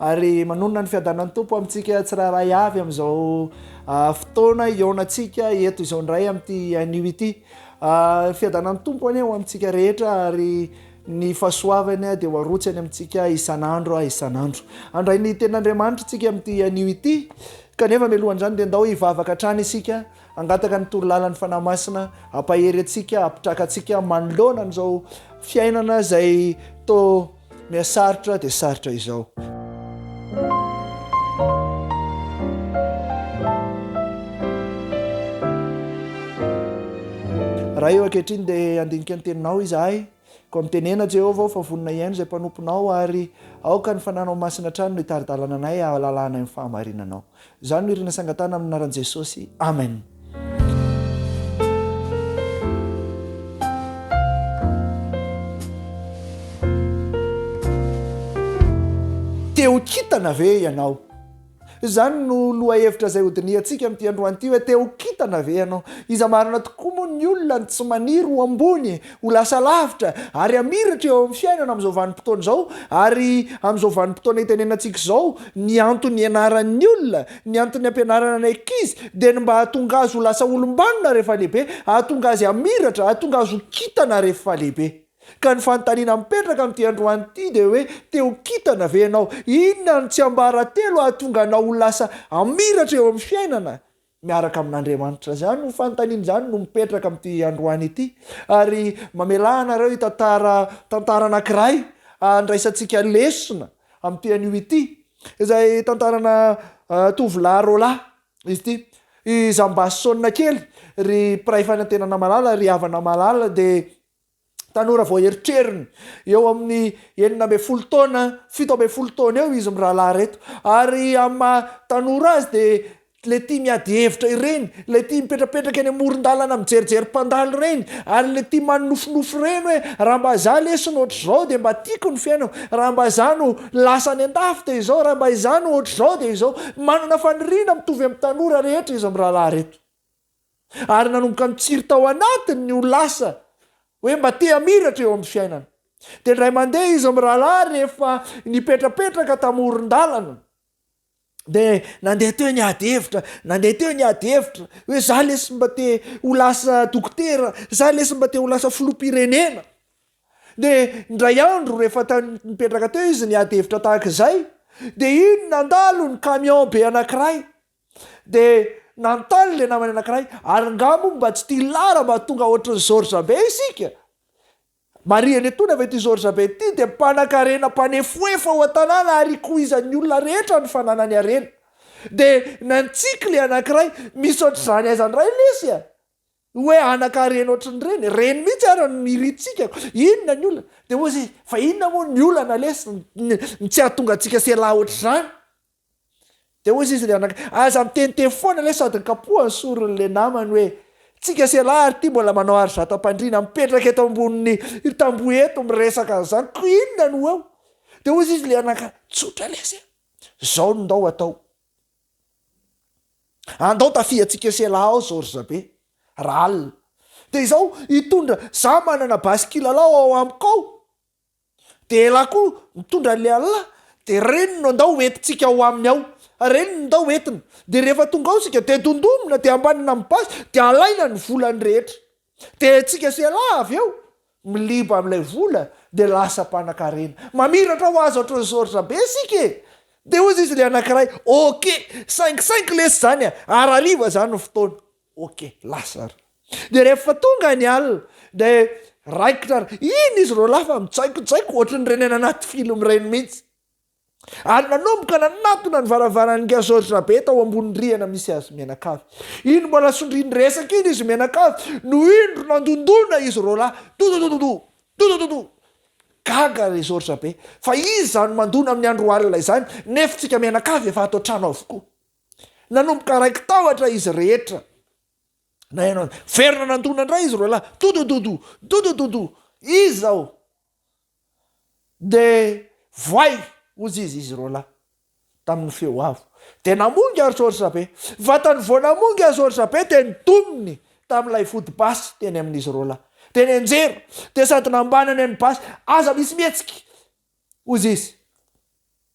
Ary manonona ny fiadanan'ny Tompo amintsika tsirairay avy amin'izao fotoana iaonantsika eto izao indray amin'ity anio ity. Fiadanan'ny Tompo anie ho amintsika rehetra ary ny fahasoavany dia ho arotsany amintsika isan'andro isan'andro. Andray ny tenin'Andriamanitra tsika amin'ity anio ity. Kanefa melohan'izany dia ndao hivavaka hatrany isika, hangataka ny toro lalan'ny Fanahy Masina hampahery antsika, hampitraka antsika manoloana an'izao fiainana izay to Miha sarotra dia sarotra izao. Ray ô, ankehitriny dia handinika ny Teninao izahay. Koa mitenena, Jehovah ô, fa vonona hihaino izay mpanomponao, ary aoka ny fananao masina hatrany no hitari-dalana anay hahalala anay ny fahamarinanao. Za no irina sangatana amin'ny anaran'i Jesosy. Amen. Te ho kintana ve ianao? Izany no lohahevitra izay hodinihantsika amin'ity androany ity hoe te ho kintana ve ianao? Iza marina tokoa moa ny olona no tsy maniry ho ambony Ho lasa lavitra ary hamiratra eo amin'ny fiainana amin'izao vanim-potoana izao ary amin'izao vanim-potoana itenenantsika izao ny antony ianaran'ny olona, ny antony ampianarana ny ankizy dia ny mba hahatonga azy ho lasa olom-banona rehefa lehibe, hahatonga azy hamiratra, hahatonga azy ho kintana rehefa lehibe. Ka ny fanontaniana mipetraka amin'ity androany ity dia hoe te ho kintana ve ianao? Inona no tsiambaratelo hahatonga anao ho lasa hamiratra eo amin'ny fiainana? Miaraka amin'Andriamanitra. Izany io fanontaniana izany no mipetraka amin'ity androany ity. Ary mamelà anareo hitantara tantara anankiray handraisantsika lesona amin'ity anio ity, izay tantarana tovolahy roa lahy izy ity. I Zambasy Sonina kely, ry mpiray fanantenana malala, ry havana malala dia. Tanora vao eritreriny, eo amin'ny enina ambin'ny folo taona, fito ambin'ny folo taona eo izy mirahalahy ireto. Ary amin'ny maha tanora azy dia ilay tia miady hevitra ireny, ilay tia mipetrapetraka eny amoron-dalana mijerijery mpandalo ireny, ary ilay tia manonofinofy ireny hoe raha mba izaho lesona ohatr'izao dia mba tiako ny fiainako, raha mba izaho no lasa any an-dafy dia izao, raha mba izaho no ohatr'izao dia izao. Manana faniriana mitovy amin'ny tanora rehetra izy mirahalahy ireto. Ary nanomboka nitsiry tao anatiny ny ho lasa hoe mba te hamiratra eo amin'ny fiainana. Dia indray mandeha izy mirahalahy rehefa nipetrapetraka tamoron-dalana. Dia nandeha teo ny ady hevitra, nandeha teo ny ady hevitra hoe za lesy mba te ho lasa dokotera, za lesy mba te ho lasa filoham-pirenena. Dia indray andro rehefa tany nipetraka teo izy ny ady hevitra tahaka izay, dia iny nandalo ny camion be anankiray. Dia nanontany ilay namany anankiray, Ary nga moa mba tsy tia lara mba tonga ohatrin'i George be isika? Marihany etoana fa ity George be ity dia mpanankarena mpanefoefo ao an-tanàna ary ikoizan'ny olona rehetra ny fananany harena. Dia nantsiky ilay anankiray, Misy ohatr'izany aiza indray lesy a? Hoe anankarena ohatrin'ireny? Ireny mihitsy ary no iritsikako. Inona ny olana? Dia hoy izy, Fa inona moa ny olana lesy? Ny tsy hahatonga antsika sy elah ohatr'izany? Dia hoy izy rianaka, aza miteniteny foana le sady nikapoha ny sorony le namany hoe, tsika sy elah ary ty mbola manao ary zatam-pandriana mipetraka eto ambonin'ny tamboho eto miresaka an'izany ko inona no eo? Dia hoy izy lianaka, tsotra lesy e! zao no ndao atao, andao tafiha tsika sy elah ao zao ry zabe, raha alina, dia izao hitondra za manana basy kilalao ao amiko ao, Dia elah koa mitondra an'ilay Allah, dia reny no andao hoentintsika ao aminy ao, reny no ndao hoentina, dia rehefa tonga ao isika dia dondonina dia ambanina amin'ny basy dia alaina ny volany rehetra, dia isika sy Allah avy eo miliba amin'ilay vola dia lasa mpanakarena, mamiratra ho azy ohatran'ny soritra be isika e! dia hozy izy ilay anankiray, ok, saingy saingy lesy izany a, ary hariva izany ny fotoana. Ok lasa ary de rehefa tonga ny alina de raikitra ary iny izy ro lahy fa mitsaikotsaiko ohatry ny reny any anaty film reny mihitsy ary nanomboka nanatona ny varavaran'ny gazozra be tao ambony rihana misy azy mianakavy iny mbola sondriany resaka iny izy mianakavy no iny ro nandondona izy ro lahy dododododo dodododo gaga ry zorja be fa iza no mandona amin'ny andro alina izany nefo tsika mianakavy efa ato an-trano avokoa Nanomboka raiki-tahotra izy rehetra. Naheno azy. Niverina nandona indray izy roa lahy. Dodododo! Dodododo! Iza aho? Dia voay, hozy izy, izy roa lahy, tamin'ny feo avo. Dia namongy ary George be. Vatany vao namongy azy George be dia nidominy tamin'ilay foto-basy teny amin'izy roa lahy. Dia nianjera, dia sady nambanany ny basy. Aza misy mihetsika! hozy izy.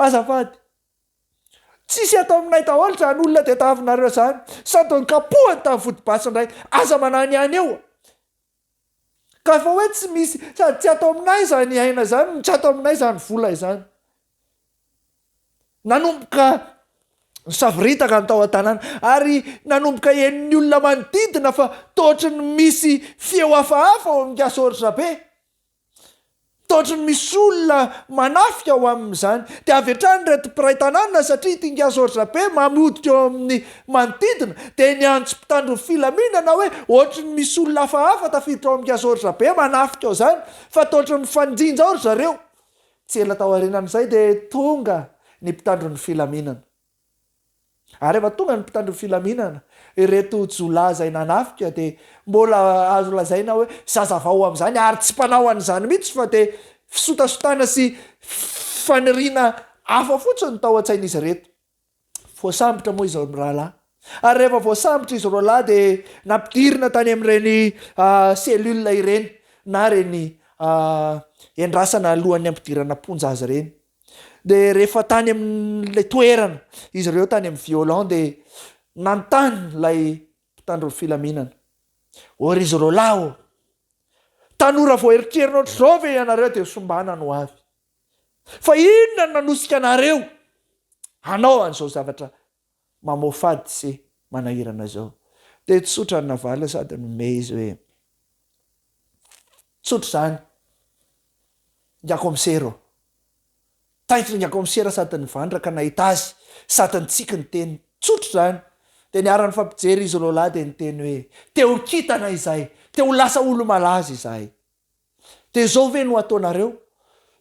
Azafady. Tsisy eto aminay daholo zany olona tetavinareo zany. Sao de nokapohany tamin'ny vodibasy indray. Aza manahy ny any eo. Ka efa hoe tsy misy, sady tsy ato aminay zany aina zany no tsy ato aminay zany vola izany. Nanomboka nisavoritaka ny tao an-tanàna ary nanomboka henon'ny olona manodidina fa toa ohatry ny misy feo hafahafa ao amin'ny Gasy Oharidrabe. Taotry ny misy olona manafika ao amin'izany. Dia avy hatrany ireto mpiray tanàna satria ity Ngiasoratra be mamy hoditra eo amin'ny manodidina dia niantso mpitandro ny filaminana hoe ohatry ny misy olona hafahafa tafiditra ao amin'ny Ngiasoratra be manafika ao izany fa taotry mifanjinja ao ry zareo. Tsy ela taorianan'izay dia tonga ny mpitandro ny filaminana. Ary rehefa tonga ny mpitandro ny filaminana, ireto jiolahy izay nanafika dia mbola azo lazaina hoe zaza vao amin'izany ary tsy mpanao an'izany mihitsy fa dia fisotasotana sy faniriana hafa fotsiny no tao an-tsain'izy ireto. Voasambotra moa izy mirahalahy. Ary rehefa voasambotra izy roalahy dia nampidirina tany amin'ireny cellule ireny na ireny endrasana alohan'ny hampidirana am-ponja azy ireny. Dia rehefa tany amin'ilay toerana izy ireo tany amin'ny violon dia nanontany ilay mpitandro ny filaminana hoe ry zareo lahy ô, tanora vao eritrerina ohatr'izao ve ianareo dia sombana ny ho avy? Fa inona no nanosika anareo hanao an'izao zavatra mamoafady sy manahirana zao. Dia tsotra ny navaliny sady nomey izy hoe, tsotra izany, ingakomisera ô. Taitra ingakomisera sady nivandraka nahita azy sady nitsiky ny teniny. Tsotra izany. Dia niarany nifampijery izy roalahy dia niteny hoe, te ho kintana izahay, te ho lasa olomalaza izahay. Dia zao ve no ataonareo?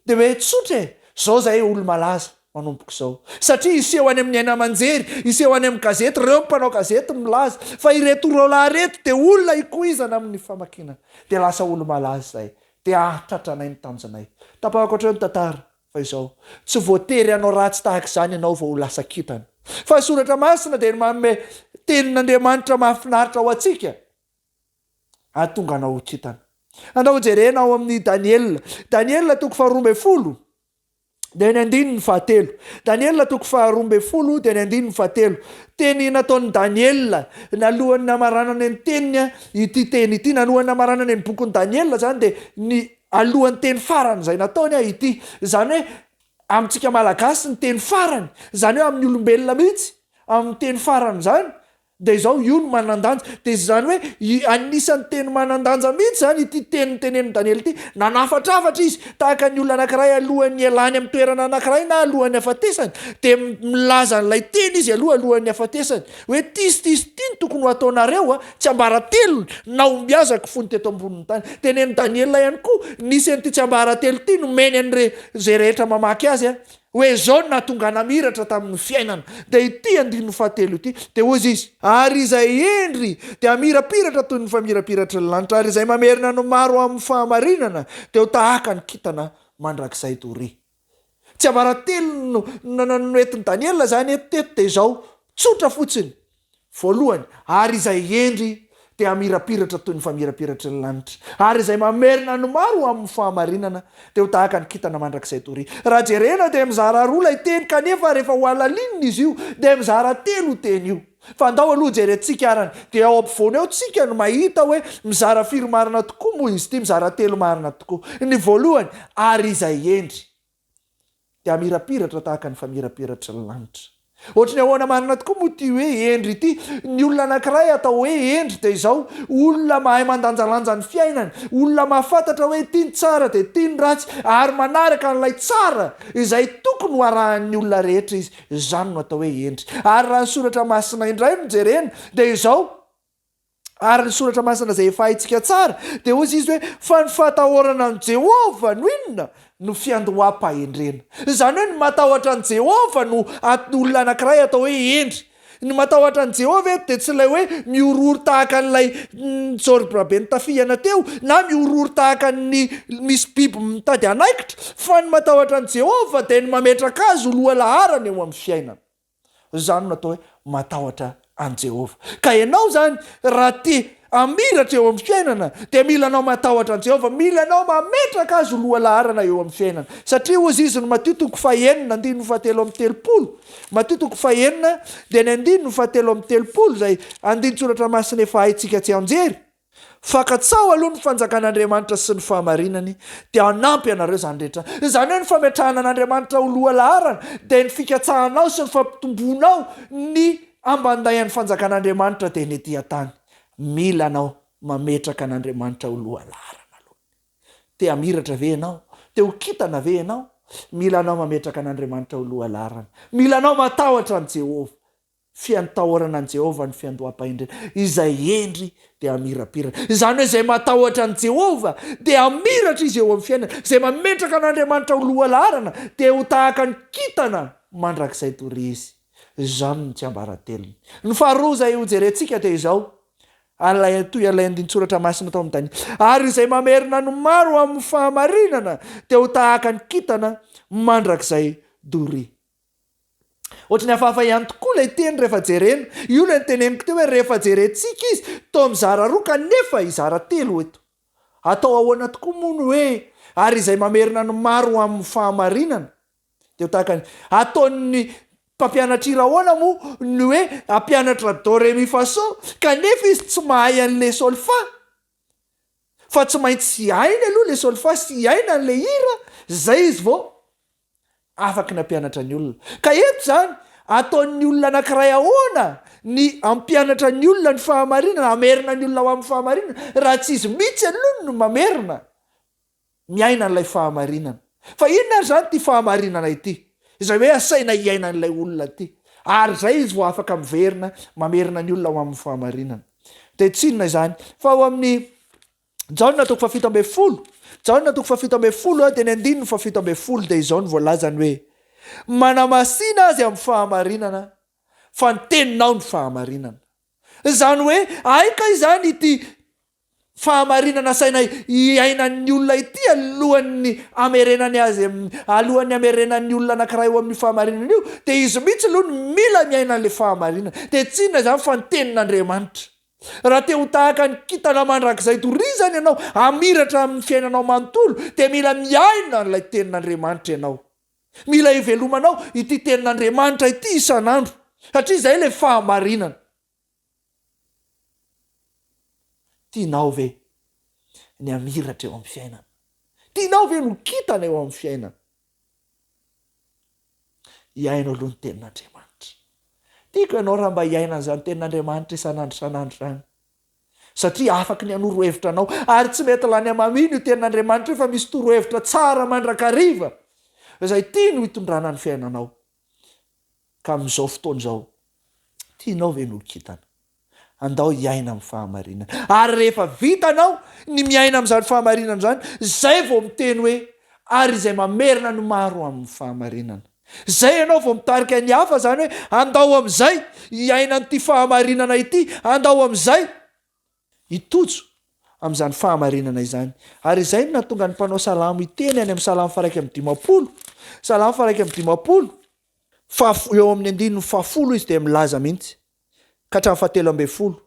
Dia hoe tsotra e, zao zahay olo-malaza manomboka izao. Satria hiseho any amin'ny haino aman-jery, hiseho any amin'ny gazety, ireo mpanao gazety milaza fa ireto roalahy ireto dia olona ikoizana amin'ny famakiana. Dia lasa olo-malaza zahay. Dia hahatratra anay ny tanjonay. Tapahako hatreo ny tantara fa izao, tsy voatery hanao ratsy tahaka izany ianao vao ho lasa kintana. Fa ny soratra masina dia manome tenin'Andriamanitra mahafinaritra ho antsika. hahatonga anao ho kintana. Andao jerena ao amin'ny Daniela. Daniela toko faharoa ambin'ny folo dia ny andininy fahatelo. Daniela toko faharoa ambin'ny folo dia ny andininy fahatelo. Teny nataon'i Daniela nalohan'ny namaranany ny teniny ity teny ity. Nalohan'ny namaranany ny bokin'i Daniela izany dia ny alohan'ny teny farany izay nataony ity. Izany hoe amintsika malagasy ny teny farany, izany hoe amin'ny olombelona mihitsy, amin'ny teny farany izany Dia izao, io no manan-danja. Dia izany hoe, i, anisan'ny teny manan-danja mihitsy izany ity teny notenenin'i Daniela ity. Nanafatrafatra izy, tahaka ny olona anankiray alohan'ny hialany amin'ny toerana anankiray na alohan'ny hafatesany. Dia mi, milaza an'ilay teny izy aloha, alohan'ny hafatesany, hoe, Ty sy ty sy ty no tokony ho hataonareo, a, tsiambaratelo nahombiazako fony teto ambonin'ny tany. Dia nen'i Daniela ihany koa, nisy an'ity tsiambaratelo ity nomeny an'ire, izay rehetra mamaky azy, a. Hoe izao no nahatonga namiratra tamin'ny fiainana, dia ity andininy fahatelo ity, dia hoy izy. Ary izay hendry dia hamirapiratra toy ny famirapiratry ny lanitra, ary izay mamerina ny maro amin'ny fahamarinana dia ho tahaka ny kintana mandrakizay doria. Tsiambaratelony no entin'i Daniela izany eto teto dia izao, tsotra fotsiny, Voalohany, ary izay hendry dia hamirapiratra toy ny famirapiratry ny lanitra, ary izay mamerina ny maro ho amin'ny fahamarinana dia ho tahaka ny kintana mandrakizay doria. Raha jerena dia mizara roa ilay teny kanefa rehefa hohalalinina izy io dia mizara telo io teny io. Fa andao aloha jerentsika arany dia ao ampovoany ao tsika no mahita hoe mizara firy marina tokoa moa izy ity, mizara telo marina tokoa. Ny voalohany, ary izay hendry. dia hamirapiratra tahaka ny famirapiratry ny lanitra. Ohatry ny ahoana marina tokoa moa ity hoe hendry ity? Ny olona anankiray atao hoe hendry dia izao, olona mahay mandanjalanja ny fiainany, olona mahafantatra hoe ity ny tsara dia ity ny ratsy ary manaraka an'ilay tsara izay tokony ho arahan'ny olona rehetra izy, izany no atao hoe hendry. Ary raha ny soratra masina indray no jerena dia izao, Ary ny Soratra Masina izay efa haintsika tsara, dia hoy izy hoe, Fa ny fahatahorana an'i Jehovah no inona? No fiandoham-pahendrena. Izany hoe ny matahotra an'i Jehovah no anton'ny olona anankiray atao hoe hendry. Ny matahotra an'i Jehovah eto dia tsy ilay hoe mihorohoro tahaka an'ilay nitsorim-piraben'i Tafiana teo, na mihorohoro tahaka ny misy biby mitady hanaikitra, fa ny matahotra an'i Jehovah dia ny mametraka azy ho lohalaharana eo amin'ny fiainana. Izany no atao hoe matahotra an'i Jehovah. Ka ianao izany, raha te hamiratra eo amin'ny fiainana, dia mila anao matahotra an'i Jehovah, mila anao mametraka azy ho lohalaharana eo amin'ny fiainana. Satria hoy izy izny Matio toko fahenina andininy fahatelo amby telopolo, Matio toko fahenina dia ny andininy fahatelo amby telopolo izay andinin-tsoratra masina efa haintsika tsianjery, Fakan-tsaho aloha ny fanjakan'Andriamanitra sy ny fahamarinany dia hanampy anareo izany rehetra. Izany hoe ny fametrahana an'Andriamanitra ho loha laharana dia ny fikatsahanao sy ny fampitomboanao ny ambandayan'ny fanjakan'Andriamanitra dia ny ety an-tany. Mila anao mametraka an'Andriamanitra ho loha laharana aloha. Te hamiratra ve ianao? Te ho kintana ve ianao? Mila anao mametraka an'Andriamanitra ho loha laharana. Mila anao matahotra an'i Jehovah. Fiantaorana an'i Jehovah ny fiandoham-pahendrena. Izay hendry dia hamirapiratra. Izany hoe izay matahotra an'i Jehovah dia hamiratra izy eo amin'ny fiainany. Izay mametraka an'Andriamanitra ho lohalaharana dia ho tahaka ny kintana mandrakizay dory izy. Izany no tsiambaratelony. Ny faharoa izay hojerentsika dia izao, An'ilay Toy an'ilay andinin-tsoratra masina tao amin'ny Daniela. Ary izay mamerina ny maro amin'ny fahamarinana dia ho tahaka ny kintana mandrakizay dory. Ohatry ny hafahafa ihany tokoa ilay teny rehefa jerena. Io ilay noteneniko teo hoe rehefa jerentsika izy toa mizara roa kanefa hizara telo eto. Atao ahoana tokoa moa ny hoe ary izay mamerina ny maro ho amin'ny fahamarinana? Dia ho tahaka ny ataon'ny mpampianatra hira ahoana moa ny hoe hampianatra do re mi fa so kanefa izy tsy mahay an'ilay solfa? Fa tsy maintsy hainy aloha ilay solfa sy hiaina an'ilay hira izay izy vao Afaka ny hampianatra ny olona. Ka eto izany, ataon'ny olona anankiray ahoana ny hampianatra ny olona ny fahamarinana, hamerina ny olona ho amin'ny fahamarinana, raha tsy izy mihitsy aloha no mamerina miaina an'ilay fahamarinana. Fa inona ary izany ity fahamarinana ity, izay hoe asaina hiaina an'ilay olona ity, ary izay izy vao afaka miverina mamerina ny olona ho amin'ny fahamarinana. Dia tsy inona izany fa ao amin'ny. Jaona toko fahafito ambin'ny folo, Jaona toko fahafito ambin'ny folo eo dia ny andininy fahafito ambin'ny folo dia izao no voalazany hoe, Manamasina azy amin'ny fahamarinana fa ny teninao no fahamarinana. Izany hoe hay kay izany ity fahamarinana asaina hiainan'ny olona ity alohan'ny hamerenany azy, alohan'ny hamerenan'ny olona anankiray eo amin'io fahamarinana io dia izy mihitsy aloha no mila miaina an'ilay fahamarinana. Dia tsy inona izany fa ny tenin'Andriamanitra. Raha te ho tahaka ny kintana mandrakizay torizany ianao hamiratra amin'ny fiainanao manontolo, dia mila miaina an'ilay Tenin'Andriamanitra ianao. Mila ivelomanao ity Tenin'Andriamanitra ity isan'andro, satria izay ilay fahamarinana. Tianao ve ny hamiratra eo amin'ny fiainana? Tianao ve ny ho kintana eo amin'ny fiainana? Hiaino aloha ny tenin'Andriamanitra. Tiako ianao raha mba hiaina an'izany tenin'Andriamanitra isan'andro isan'andro izany. Satria afaka ny hanoro hevitra anao, ary tsy mety lany amaminy io tenin'Andriamanitra io fa misy torohevitra tsara mandrakariva izay tiany ho itondrana ny fiainanao. Ka amin'izao fotoana izao, tianao ve ny ho kintana? Andao hiaina amin'ny fahamarinana. Ary rehefa vitanao ny miaina amin'izany fahamarinana izany, izay vao miteny hoe, Ary izay mamerina ny maro amin'ny fahamarinana. Izay ianao vao mitarika ny hafa izany hoe, Andao amin'izay hiaina an'ity fahamarinana ity, andao amin'izay. i Tojo amin'izany fahamarinana izany. Ary izay no nahatonga ny mpanao salamo hiteny any amin'ny salamo faha-iraika amby dimampolo, salamo faha-iraika amby dimampolo, fa eo amin'ny andininy fahafolo izy dia milaza mihitsy, ka hatramin'ny fahatelo ambin'ny folo,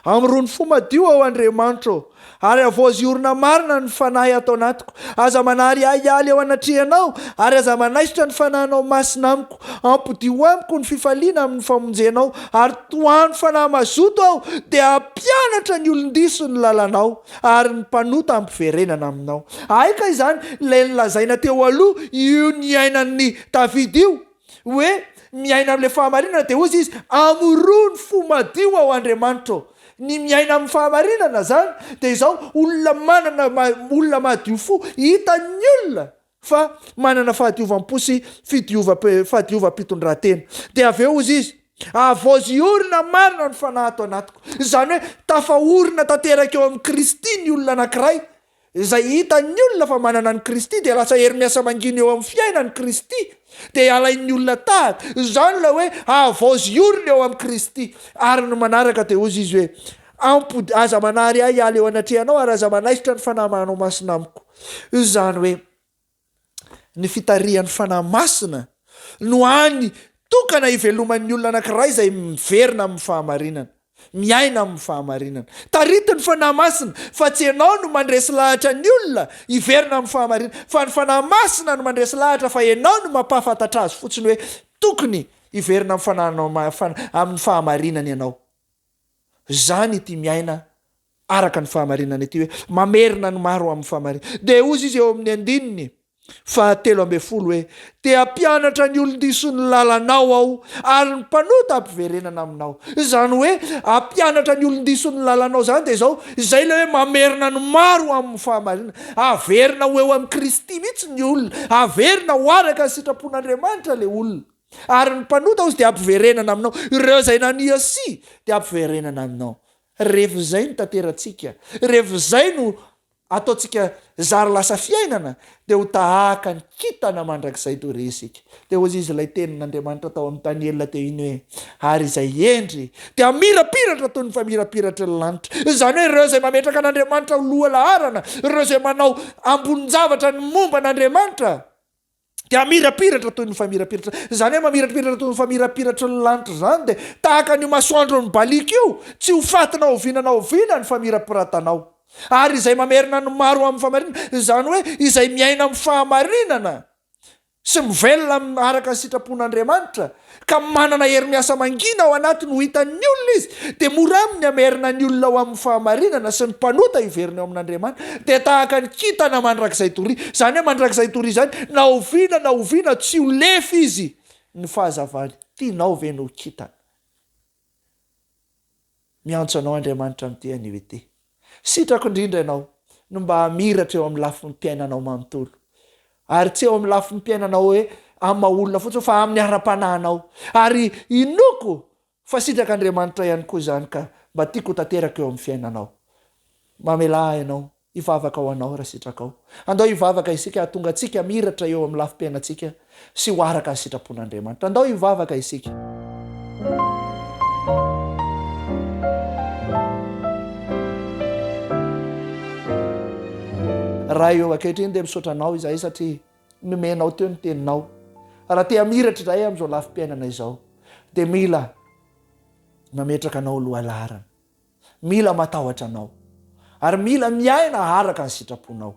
Amorony fo madio, aho Andriamanitra ô, ary havaozy orina marina ny fanahy ato anatiko, aza manary ahialy eo anatrehanao, ary aza manaisotra ny fanahinao masina amiko. Ampodiho amiko ny fifaliana amin'ny famonjenao, ary tohano fanahy mazoto aho, dia hampianatra ny olon-diso ny lalanao, ary ny mpanota hampiverenana aminao. Aika izany ilay nolazaina teo aloha, io niainan'i Davida io, hoe, Miaina amin'ilay fahamarinana, dia hozy izy, Amoroho ny fo madio, aho Andriamanitra ô. Ny miaina amin'ny fahamarinana izany, dia izao, olona manana, olona madio fo, hitan'ny olona, fa manana fahadiovam-po sy fahadiovam-pitondrantena. Dia avy eo, hozy izy, havaozy hiorina marina ny fanahy ato anatiko. Izany hoe, tafaorina tanteraka eo amin'i Kristy ny olona anankiray, izay hitan'ny olona fa manana an'i Kristy, dia lasa hery miasa mangina eo amin'ny fiainany Kristy, dia halain'ny olona tahaka. Izany ilay hoe, havaozy hiorina eo amin'i Kristy. Ary ny manaraka dia hozy izy hoe, Ampody, aza manary ahy hiala eo anatrehanao, ary aza manaisotra ny Fanahy Manao Masina amiko. Izany hoe ny fitarihan'ny Fanahy Masina no hany tokana hiveloman'ny olona anankiray izay miverina amin'ny fahamarinana, miaina amin'ny fahamarinana. Taritin'ny Fanahy Masina fa tsy ianao no mandresy lahatra ny olona hiverina amin'ny fahamarinana fa ny Fanahy Masina no mandresy lahatra fa ianao no mampahafantatra azy fotsiny hoe tokony hiverina amin'ny fanahinao amin'ny fahamarinana ianao. Izany ity miaina araka ny fahamarinana ity hoe, Mamerina ny maro ho amin'ny fahamarinana. Dia hozy izy eo amin'ny andininy fahatelo ambin'ny folo hoe, Te hampianatra ny olon-diso ny lalanao aho, ary ny mpanota hampiverenana aminao. Izany hoe, hampianatra ny olon-diso ny lalanao izany dia izao, izay ilay hoe mamerina ny maro ho amin'ny fahamarinana. Haverina ho eo amin'i Kristy mihitsy ny olona, haverina ho araka ny sitrapon'Andriamanitra ilay olona. Ary ny mpanota hozy dia hampiverenana aminao. Ireo izay nania sy dia hampiverenana aminao. Revo izay no tanterantsika, revo izay no ataontsika zary lasa fiainana, dia ho tahaka ny kintana mandrakizay toy ireny isika. Dia hoy izy ilay tenin'Andriamanitra tao amin'i Daniela teo iny hoe, Ary izay hendry dia hamirapiratra toy ny famirapiratry ny lanitra. Izany hoe ireo izay mametraka an'Andriamanitra ho loha laharana, ireo izay manao ambonin-javatra ny momba an'Andriamanitra, dia hamirapiratra toy ny famirapiratra izany hoe mamirapiratra toy ny famirapiratry ny lanitra izany dia tahaka an'io masoandron'ny baliaka io tsy ho faty na oviana na oviana ny famirapiratanao ary izay mamerina ny maro amin'ny famarinana izany hoe izay miaina amin'ny fahamarinana sy mivelona amin'ny araka ny sitrapon'Andriamanitra ka manana hery miasa mangina ao anatiny ho hitan'ny olona izy, dia mora aminy ny hamerina ny olona ho amin'ny fahamarinana sy ny mpanota hiverina eo amin'Andriamanitra, dia tahaka ny kintana mandrakizay doria, izany hoe mandrakizay doria izany, na oviana na oviana tsy ho lefy izy, ny fahazavany, tianao ve ny ho kintana? Miantso anao Andriamanitra miteny anio ity. Sitrako indrindra ianao no mba hamiratra eo amin'ny lafiny piainanao manontolo. Ary tsy eo amin'ny lafiny piainanao hoe amin'ny maha olona fotsiny fa amin'ny ara-panahinao. Ary inoako fa sitrak' Andriamanitra ihany koa izany ka mba tiako ho tanteraka eo amin'ny fiainanao. Mamelà ahy ianao Hivavaka ho anao raha sitrakao. Andao hivavaka isika hahatonga antsika hamiratra eo amin'ny lafim-piainantsika sy ho araka ny sitrapon'Andriamanitra. Andao hivavaka isika. Ray ô, ankehitriny dia misaotra Anao izahay satria nomenao teo ny Teninao. Raha te hamiratra izahay amin'izao lafim-piainana izao dia mila mametraka Anao ho lohalaharana. Mila matahotra Anao. Ary mila miaina araka ny sitraponao.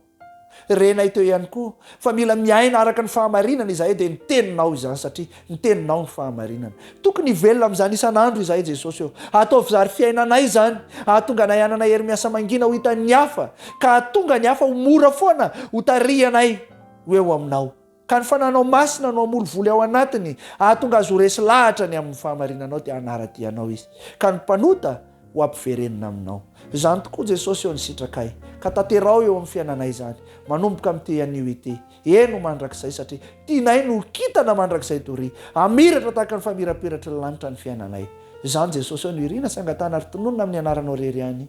Renay teo ihany koa fa mila miaina araka ny fahamarinana izahay dia ny Teninao izany satria ny Teninao no fahamarinana. Tokony hivelona amin'izany isan'andro izahay Jesosy ô. Ataovy zary fiainanay izany hahatonga anay hanana hery miasa mangina ho hitan'ny hafa ka hahatonga ny hafa ho mora foana ho tarihanay ho eo Aminao. Ka ny fananao masina no hamory voly ao anatiny, hahatonga azy ho resy lahatra ny amin'ny fahamarinanao, dia hanara-dia anao izy, ka ny mpanota ho ampiverenina aminao. Izany tokoa, Jesosy ô, ny sitrakay, ka tanteraho eo amin'ny fiainanay izany, manomboka amin'ity anio ity, eny, ho mandrakizay, satria tianay ny ho kintana mandrakizay doria, hamiratra tahaka ny famirapiratry ny lanitra ny fiainanay. Izany, Jesosy ô, no irina sy angatahana ary tononina amin'ny Anaranao irery ihany.